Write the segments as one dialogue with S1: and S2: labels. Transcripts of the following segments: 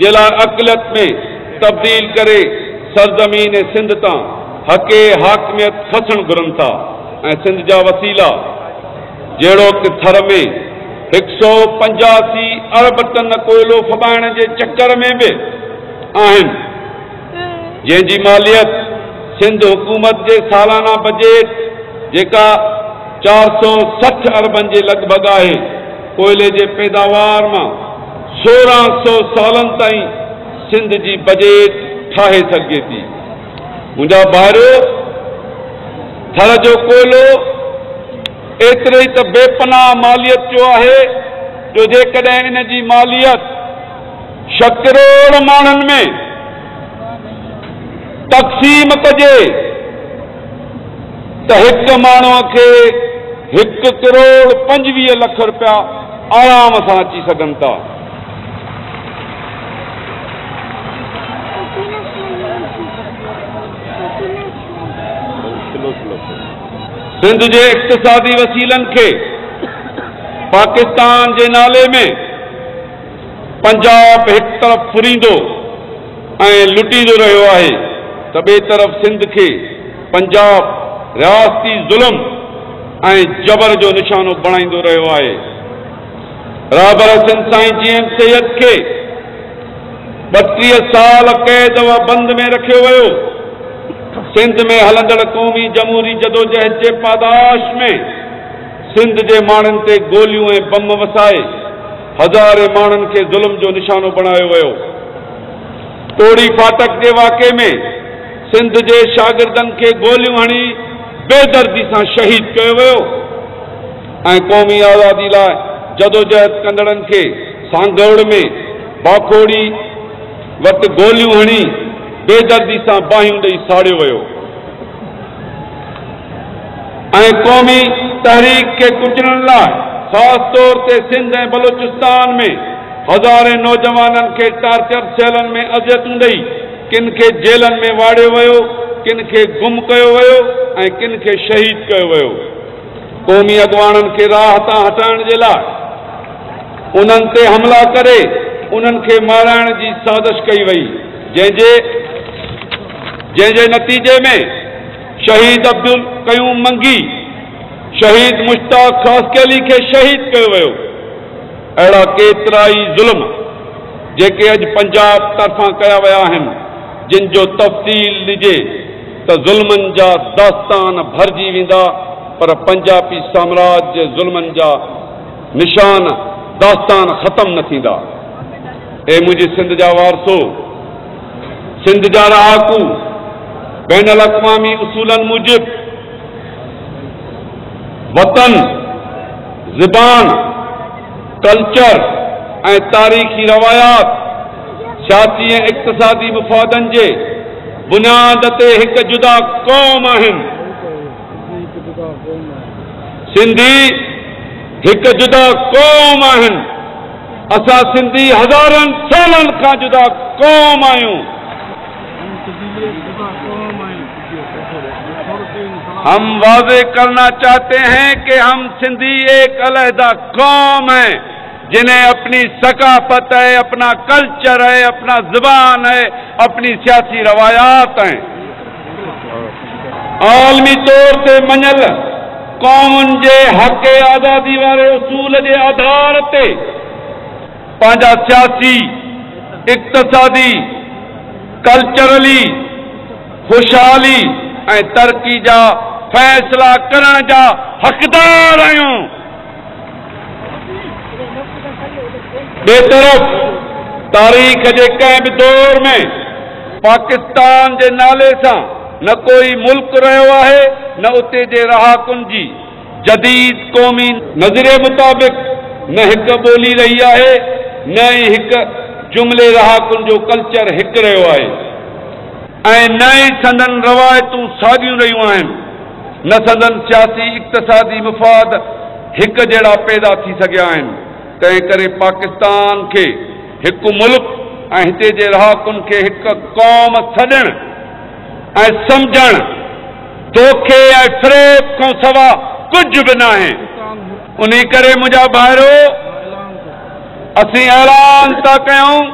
S1: جي لاء اقليت ۾ تبديل ڪري سرزمين سنڌ تان حق حاڪميت کسڻ گهرن ٿا ۽ سنڌ جا وسيلا جهڙوڪ ٿر ۾ هڪ سؤ پنجاسي ارب ٽن ڪوئلو ڦٻائڻ جي چڪر ۾ به آهن. جنهن جي ماليت سنڌ حڪومت جي سالانه بجيٽ جيڪا چار سؤ سٺ اربن جي لڳ ڀڳ آهي، ڪوئلي جي پيداوار مان سورهن سؤ سالن تائين سنڌ جي بجيٽ ٺاهي سگهجي ٿي. منهنجا ڀائرو! ٿر جو ڪوئلو ايتري ئي ته بي پناهه ماليت جو آهي جو جيڪڏهن ان جي ماليت، ڇهه ڪروڙ ماڻهن ۾ تقسيم ڪجي ته هڪ ماڻهو کي هڪ ڪروڙ پنجويهه لک رپيا آرام سان اچي سگهن ٿا. سنڌ جي اقتصادي وسيلن کي پاڪستان جي نالي ۾ پنجاب هڪ طرف ڦريندو ۽ لٽيندو رهيو آهي ته ٻئي طرف سنڌ کي پنجاب رياستي ظلم ۽ جبر جو نشانو بڻائيندو رهيو آهي. رهبر حسين سائين جي ايم سيد کي ٻٽيهه سال قيد و بند ۾ رکيو ويو. سنڌ ۾ هلندڙ قومي جمهوري جدوجهد جي پاداش ۾ سنڌ جي ماڻهن تي گوليون ۽ بم وسائي، هزارين ماڻهن کي ظلم جو نشانو بڻايو ويو. ٽوڙي ڦاٽڪ جي واقعي ۾ سنڌ جي شاگردن کي گوليون هڻي بي دردي سان شهيد ڪيو ويو ۽ قومي آزادي لاء جدوجهد ڪندڙن کي سانگهڙ ۾ باکوڙي وٽ گوليون هڻي بي دردي سان باهيون ڏئي ساڙيو ويو. ۽ قومي تحريڪ کي ڪچلڻ لاء خاص طور تي سنڌ ۽ بلوچستان ۾ هزارين نوجوانن کي ٽارچر سيلن ۾ اذيتون ڏئي ڪن کي جيلن ۾ واڙيو ويو ڪن کي گم ڪيو ويو ۽ ڪن کي شهيد ڪيو ويو قومي اڳواڻن کي راهه تان هٽائڻ جي لاء انهن تي حملا ڪري انهن کي مارائڻ جي سازش ڪئي وئي جنهن جي جنهن جي نتيجي ۾ شهيد عبدالقيوم منگي، شهيد مشتاق خاصخيلي کي شهيد ڪيو ويو. اهڙا ڪيترائي ظلم جيڪي اڄ پنجاب طرفان ڪيا ويا آهن جن جو تفصيل ڏجي ته ظلمن جا داستان ڀرجي ويندا پر پنجابي سامراج جي ظلمن جا نشان داستان ختم نه ٿيندا. اي منهنجي سنڌ جا وارثو! سنڌ جا رهاڪو بين الاقوامي اصولن موجب وطن، زبان، ڪلچر ۽ تاريخي روايات سياسي ۽ اقتصادي مفادن جي بنياد تي هڪ جدا قوم آهن. سنڌي هڪ جدا قوم آهن. اسان سنڌي هزارن سالن کان جدا قوم آهيون. هم واضح ڪرنا چاهتي هين ڪي هم سنڌي ايڪ علحده قوم هي جنهين اپني ثقافت هي اپنا ڪلچر هي اپنا زبان هي اپني سياسي روايات هين. عالمي طور تي مڃيل قومن جي حق آزادي واري اصول جي آڌار تي پنهنجا سياسي، اقتصادي، ڪلچرلي، خوشحالي ۽ ترقي جا فيصلا ڪرڻ جا حقدار آهيون. ٻئي طرف تاريخ جي ڪنهن به دور ۾ پاڪستان جي نالي سان نه ڪوئي ملڪ رهيو آهي نه اتي جي رهاڪن جي جديد قومي نظريي مطابق نه هڪ ٻولي رهي آهي نه ئي هڪ جملي رهاڪن جو ڪلچر هڪ رهيو آهي ۽ نه ئي سندن روايتون ساڳيون رهيون آهن. نه سندن سياسي اقتصادي مفاد هڪ جهڙا پيدا ٿي سگهيا آهن، تنهن ڪري پاڪستان کي هڪ ملڪ ۽ هتي جي رهاڪن کي هڪ قوم سڏڻ ۽ سمجهڻ دوکي ۽ فريب کان سوا ڪجهه به ناهي، انهي ڪري منهنجا ڀائرو! اسين اعلان ٿا ڪيون.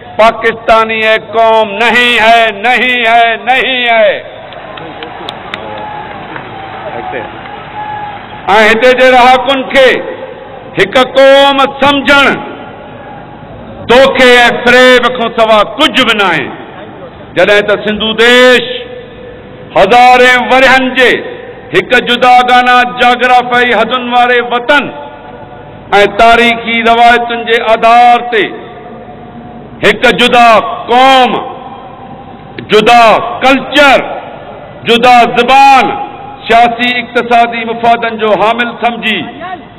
S1: پاڪستاني ايڪ قوم نهين هي نهين هي نهين هي ۽ هتي جي رهاڪن کي هڪ قوم سمجهڻ دوکي ۽ فريب کان سوا ڪجهه به ناهي جڏهن ته سنڌو ديش هزارين ورهين جي هڪ جداگانه جاگرافيائي حدن واري وطن ۽ تاريخي روايتن جي آڌار تي هڪ جدا قوم، جدا ڪلچر، جدا زبان، سياسي اقتصادي مفادن جو حامل سمجهي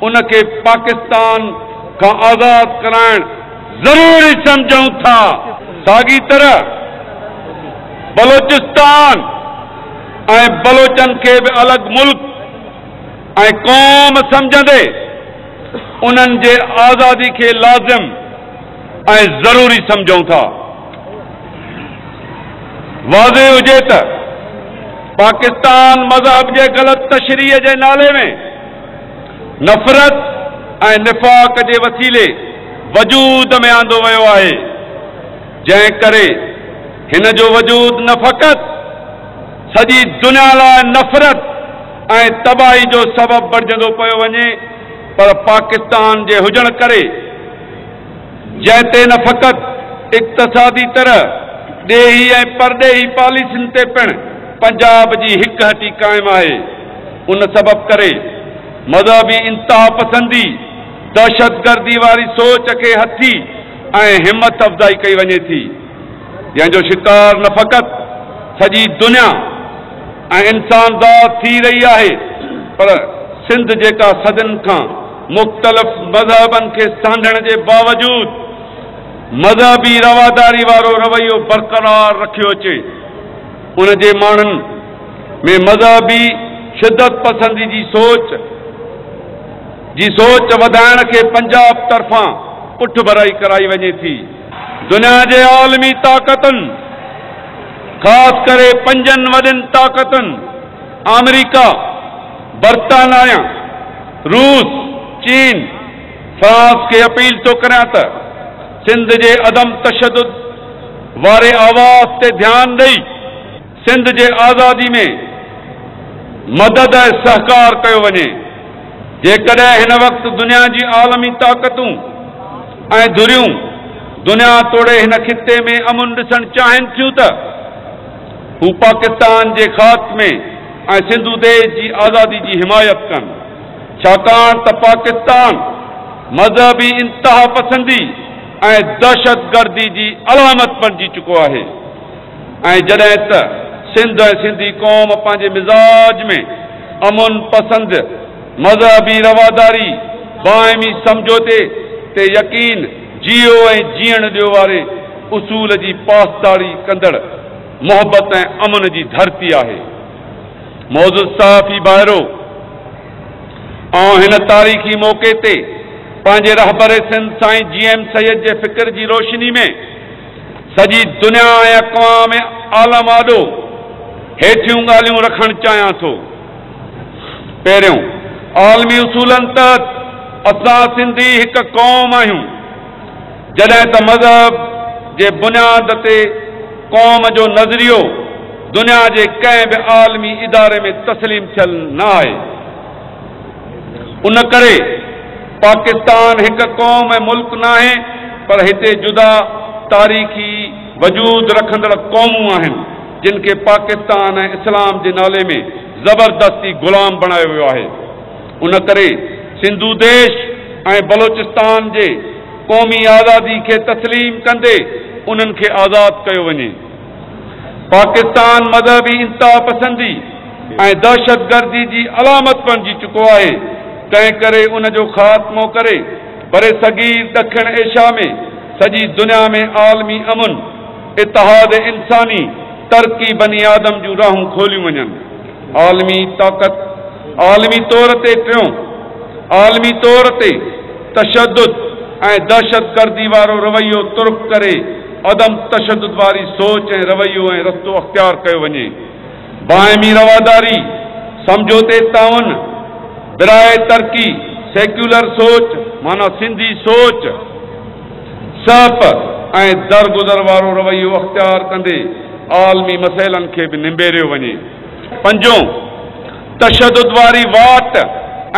S1: ان کي پاڪستان کان آزاد ڪرائڻ ضروري سمجهون ٿا. ساڳي طرح بلوچستان ۽ بلوچن کي به الڳ ملڪ، ۽ قوم سمجهندي انهن جي آزادي کي لازم ۽ ضروري سمجهون ٿا. واضح هجي ته پاڪستان مذهب جي غلط تشريح جي نالي ۾ نفرت ۽ نفاق جي وسيلي وجود ۾ آندو ويو آهي، جنهن ڪري هن جو وجود نه فقط سڄي دنيا لاء نفرت، ۽ تباهي جو سبب بڻجندو پيو وڃي پر پاڪستان جي هجڻ ڪري جنهن تي نه فقط اقتصادي طرح ڏيهي ۽ پرڏيهي پاليسين تي پڻ پنجاب جي هڪ هٽي قائم آهي ان سبب ڪري مذهبي انتهاپسندي دهشتگردي واري سوچ کي هٿي ۽ همٿ افزائي ڪئي وڃي ٿي. جنهن جو شڪار نه فقط سڄي دنيا ۽ انسانذات ٿي رهي آهي پر سنڌ جيڪا صدين کان مختلف مذهبن کي سانڍڻ جي باوجود مذهبي رواداري وارو رويو برقرار رکيو اچي ان جي ماڻهن ۾ مذهبي شدت پسندي جي سوچ جي سوچ وڌائڻ کي پنجاب طرفان پٺڀرائي ڪرائي وڃي ٿي. دنيا جي عالمي طاقتن خاص ڪري پنجن وڏين طاقتن آمريڪا، برطانايا، روس، چين، فرانس کي اپيل ٿو ڪريان ته سنڌ جي عدم تشدد واري آواز تي ڌيان ڏئي، سنڌ جي آزادي ۾ مدد ۽ سهڪار ڪيو وڃي، جيڪڏهن هن وقت دنيا جي عالمي طاقتون ۽ ڌريون دنيا توڙي هن خطي ۾ امن ڏسڻ چاهين ٿيون ته هو پاڪستان جي خاتمي ۽ سنڌو ديش جي آزادي جي حمايت ڪن ڇاڪاڻ ته پاڪستان مذهبي انتهاپسندي ۽ دهشتگردي جي علامت بڻجي چڪو آهي. ۽ جڏهن ته سنڌ ۽ سنڌي قوم پنهنجي مزاج ۾ امن پسند، مذهبي رواداري، باهمي سمجهوتي تي يقين، جيئو ۽ جيئڻ ڏيو واري اصول جي پاسداري ڪندڙ محبت ۽ امن جي ڌرتي آهي. معزز صحافي ڀائرو! آئون هن تاريخي موقعي تي پنهنجي رهبر سنڌ سائين جي ايم سيد جي فڪر جي روشني ۾، سڄي دنيا ۽ اقوام عالم آڏو هيٺيون ڳالهيون رکڻ چاهيان ٿو. پهريون، عالمي اصولن تحت اسان سنڌي هڪ قوم آهيون، جڏهن ته مذهب جي بنياد تي قوم جو نظريو دنيا جي ڪنهن به عالمي اداري ۾ تسليم ٿيل نه آهي. ان ڪري پاڪستان هڪ قوم ۽ ملڪ ناهي پر هتي جدا تاريخي وجود رکندڙ قومون آهن جن کي پاڪستان ۽ اسلام جي نالي ۾ زبردستي غلام بڻايو ويو آهي ان ڪري سنڌو ديش ۽ بلوچستان جي قومي آزادي کي تسليم ڪندي انهن کي آزاد ڪيو وڃي. پاڪستان مذهبي انتهاپسندي ۽ دهشتگردي جي علامت بڻجي چڪو آهي، تنهنڪري ان جو خاتمو ڪري برصغير ڏکڻ ايشيا ۾ سڄي دنيا ۾ عالمي امن، اتحاد انساني، ترقي بني آدم جون راهون کوليون وڃن. عالمي طاقت، عالمي طور تي ٽيون، عالمي طور تي تشدد ۽ دهشتگردي وارو رويو ترڪ ڪري عدم تشدد واري سوچ ۽ رويو ۽ رستو اختيار ڪيو وڃي. باهمي رواداري، سمجهوتي تعاون، براهه ترقي، سيڪيولر سوچ معنيٰ سنڌي سوچ، س پ ۽ درگذر وارو رويو اختيار ڪندي عالمي مسئلن کي به نبيريو وڃي. پنجون، تشدد واري واٽ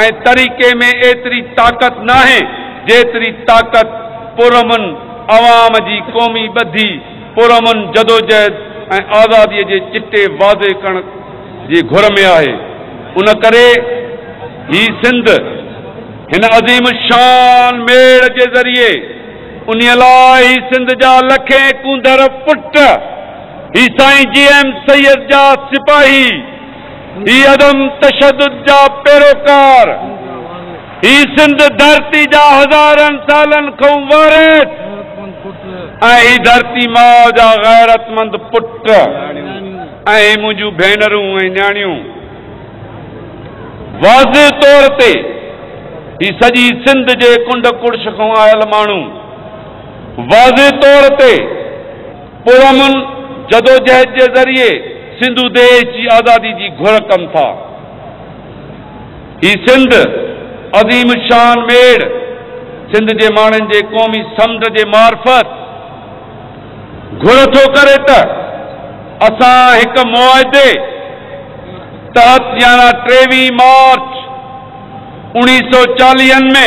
S1: ۽ طريقي ۾ ايتري طاقت ناهي جيتري طاقت پرامن عوام جي قومي ٻڌي، پرامن جدوجهد ۽ آزادي جي چٽي واضح ڪرڻ جي گهر ۾ آهي. ان ڪري هي سنڌ. هن عظيم الشان ميڙ جي ذريعي انهي لاء هي سنڌ جا لکين ڪونڌر پٽ، هي سائين جي ايم سيد جا سپاهي، هي عدم تشدد جا پيروڪار، هي سنڌ ڌرتي جا هزارن سالن کئون وارث ۽ هي ڌرتي ماء جا غيرتمند پٽ ۽ هي منهنجون ڀينرون ۽ نياڻيون. واضح طور تي هي سڄي سنڌ جي ڪنڊ ڪڙڇ کان آيل ماڻهو واضح طور تي پرامن جدوجهد جي ذريعي سنڌو ديش جي آزادي جي گهر ڪن ٿا. هي سنڌ عظيم الشان ميڙ سنڌ جي ماڻهن جي قومي سمنڊ جي معرفت، گهر ٿو ڪري ته اسان هڪ معاهدي تحت يعنيٰ ٽيويهين مارچ اوڻيهه سؤ چاليهن ۾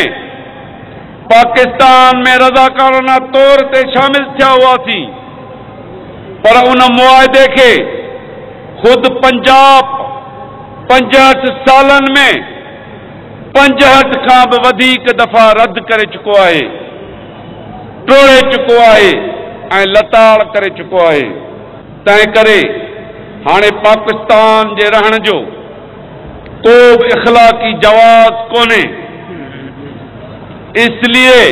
S1: پاڪستان ۾ رضاڪارانه طور تي شامل ٿيا هئاسين پر ان معاهدي کي خود پنجاب پنجهٺ سالن ۾ پنجهٺ کان به وڌيڪ دفعا رد ڪري چڪو آهي. ٽوڙي چڪو آهي ۽ لتاڙ ڪري چڪو آهي، تنهن ڪري هاڻي پاڪستان جي رهڻ جو ڪو به اخلاقي جواز ڪونهي، اس لئي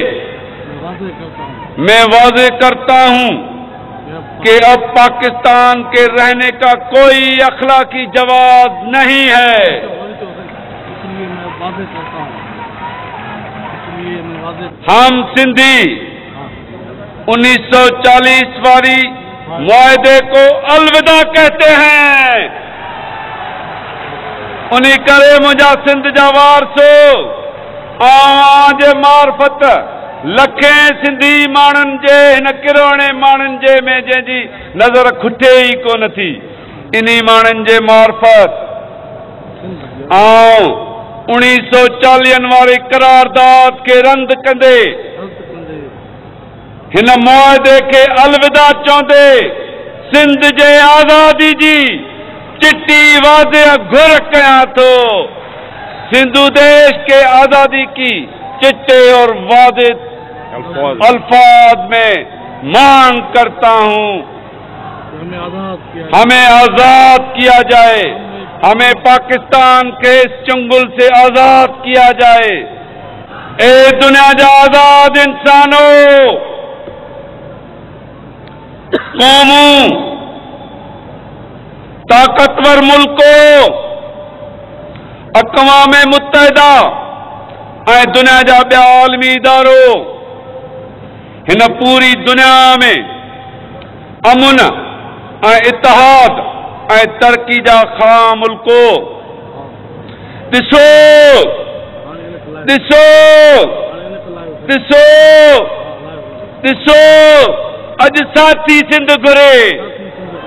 S1: مين واضح ڪرتا هون ڪي اب پاڪستان ڪي رهني ڪا ڪوئي اخلاقي جواز نهين هي. ھم سنڌي انيس سو چاليس واري معاھدي ڪو الوداع ڪهتي هين انھي ڪري منھنجا سنڌ جا وارثو اوھان جي معرفت لکين سنڌي ماڻھن جي ھن ڪروڙين ماڻھن جي ۾ جنھن جي نظر کٽي ئي ڪونه ٿي انهي ماڻهن جي معرفت آئون اڻيهه سؤ چاليهن واري قرارداد کي رند ڪندي هن معاهدي کي الوداع چوندي سنڌ جي آزادي جي چٽي واضح گهر ڪيان ٿو سنڌو ديش کي آزادي ڪي چٽي اور واضح الفاظ ۾ مانگ ڪرتا هون. همي آزاد ڪيا جائي همي پاڪستان کي اس چنگل سي آزاد ڪيا جائي اي دنيا جا آزاد انسانو قومون طاقتور ملڪو اقوام متحده ۽ دنيا جا ٻيا عالمي ادارو هن پوري دنيا ۾ امن ۽ اتحاد ۽ ترقي جا خواهان ملڪو ڏسو ڏسو ڏسو ڏسو اڄ ساٿي سنڌ گهري.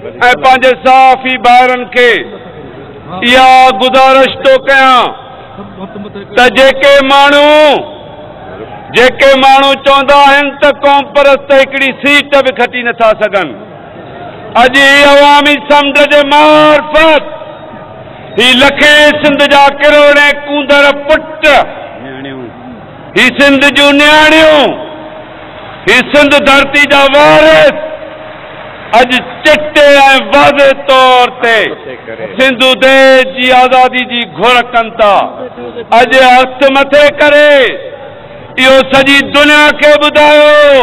S1: ۽ پنهنجي صحافي ڀائرن کي اها گذارش ٿو ڪيان ته جيڪي ماڻهو جيڪي ماڻهو چوندا آهن ته قومپرست هڪڙي سيٽ به کٽي نٿا سگهن اڄ هي عوامي سمنڊ جي معرفت هي لکين سنڌ جا ڪروڙين ڪونڌر پٽ هي سنڌ جون نياڻيون، هي سنڌ ڌرتي جا وارث اڄ چٽي ۽ واضح طور تي سنڌو ديس جي آزادي جي گهر ڪن ٿا. اڄ هٿ مٿي ڪري اهو سڄي دنيا کي ٻڌايو.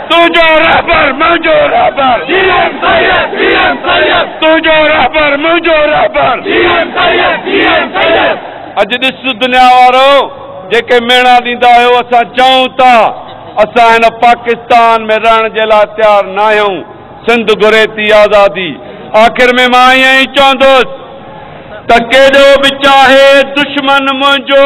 S1: تنهنجو رهبر منهنجو رهبر جي ايم سيد جي ايم سيد تنهنجو رهبر منهنجو رهبر جي ايم سيد جي ايم سيد. اڄ ڏس دنيا وارو جيڪي ميڻا ڏيندا آهيو اسان چئون ٿا اسان هن پاڪستان ۾ رهڻ جي لاء تيار ناهيون سنڌ گهري ٿي آزادي آخر ۾ مان ائين ئي چوندس ته ڪيڏو به چاهي دشمن منهنجو.